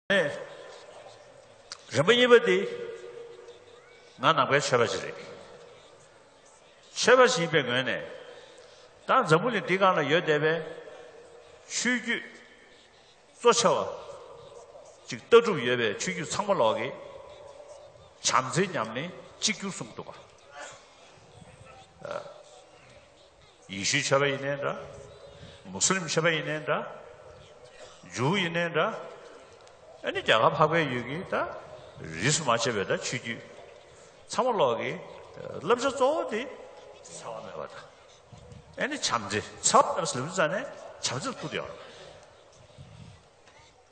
རིན་པོ་གཉིས་པ་དེ་ང་ནང་པའི་ཆོས་པ་ཞིག་རེད་ཆོས་པ་ཞིག་པའི་ངོས་ནས་ད་འཛམ་བུ་ལི་འདི་གང་ལ་ཡོད་བསྡད་པའི་ཆོས་བརྒྱུད་གཙོ་ཆེ་བ་ཅིག་ལྟ་གྲུབ་ཡོད་པའི་ཆོས་བརྒྱུད་ཚང་མ་ལོག་གི་བྱམས་བརྩེ་ཉམས་ལེན་གཅིག་གྱུར་གསུངས་འདུག་ག་ཡེ་ཤུའི་ཆོས་པ་ཡིན་ནའི་འདྲ། མུ་སི་ལིམ་ཆོས་པ་ཡིན་ནའི་འདྲ། འཇུའུ་ཡིན་ནའི་འདྲ། ཨ་ནི་རྒྱ་གར་འཕགས་པའི་ཡུལ་གྱི་ད་རིས་སུ་མ་ཆད་པའི་ད་ཆོས་བརྒྱུད། ཚང་མ་ལོག་གི། བསླབ་བྱ་གཙོ་བོ་དེ། ཚ་བ་མེད་པ་ད། ཨ་ནི་བྱམས་བརྩེ། ཚ་བ་ལྟར་སིལ་བུ་བཙའ་ནས་བྱམས་བརྩེ་ལ་བསྐུར་དུ་ཡོང།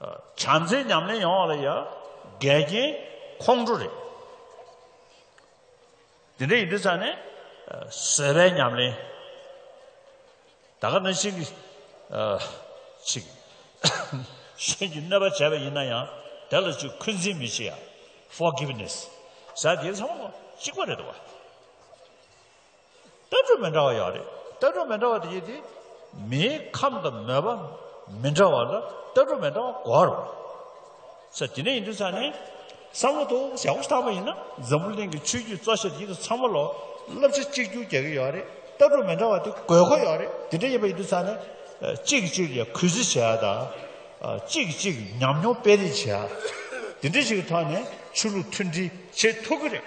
བྱམས་བརྩེའི་ཉམས་ལེན་ཡོང་བ་ལ་ཡང་འགལ་རྐྱེན་ཁོང་ཁྲོ་རེད། དེ་འདྲ་ཡིན་དུས་ཚང་ནས་བཟོད་པའི་ཉམས་ལེན། ད་ག་ནི་ཞིག་ཞིག་གཞན་གྱི་གནོད་པ་བྱས་པ་ཡིན་ན་ཡང་དེ་ལ་ཅིག་འཁོན་འཛིན་མི་བྱེད་ཡ། Forgiveness། ཟ་དེ་ཚང་མ་གཅིག་པ་རེད་དོ། ལྟ་གྲུབ་མི་འདྲ་བ་ཡང་རེད། ལྟ་གྲུབ་མི་འདྲ་བ་དེ་ཡིན་དུས། མིའི་ཁམས་དང་མོས་པ་མི་འདྲ་བ་ལ་ལྟ་གྲུབ་མི་འདྲ་བ་གོ་རོགས། ས་དེ་ནས་ཡིན་དུས་ས་ནས། བསམ་བློ་ཐོག་ཞག་པོ་བཏང་བ་ཡིན་ན་འཛམ་བུ་གླིང་གི་ཆོས་བརྒྱུད་གཙོ་ཆེར་ཡིད་དུ་ཚང་མ་ལོ་བསླབ་བྱ་གཅིག་གྱུར་རྒྱག་གི་ཡོད་རེད། ལྟ་གྲུབ་མི་འདྲ་བ་དེ་དགོས་མཁོ་ཡོད་རེད། དེ་འདྲ་ཡིན་པ་ཡིན་དུས་ས་ནས། གཅིག་གིས་གཅིག་ལ་གུས་བརྩི་བྱེད་ཡ་དང། གཅིག་གིས་གཅིག་ཉམས་མྱོང་སྤེལ་རེས་བྱེད་ཡ། དེ་འདྲ་ཞིག་གི་ཐོག་ནས་ཆོས་ལུགས་མཐུན་སྒྲིལ་བྱེད་ཐུབ་ཀྱི་རེད།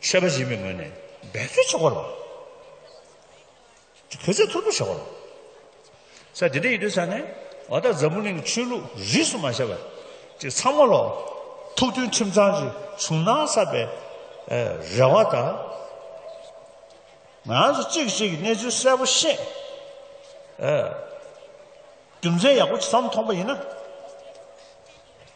ཆོས་པ་ཡིན་པའི་ངོས་ནས་འབད་རྩོལ་བྱ་དགོས་རེད། གུས་བརྩི་ཐུར་བུར་བྱ་དགོས་རེད། ས་དེ་འདྲ་ཡིན་དུས་ས་ནས་ཨོ་ད་འཛམ་བུ་གླིང་གི་ཆོས་ལུགས་རིས་སུ་མ་ཆད་པ་ཅིག་ཚང་མ་ལོག་ཐུག་དོན་ཁྲིམས་གཙང་གི་བྱུང་སྣང་གསར་པའི་རེ་བ་དང། ང་རང་ཚོ་གཅིག་གིས་གཅིག་གི་གནས་ཚུལ་གསལ་པོ་ཤེས། རྒྱུ་མཚན་ཡག་པོ་ཅིག་བསམ་ཐོངས་པ་ཡིན་ན།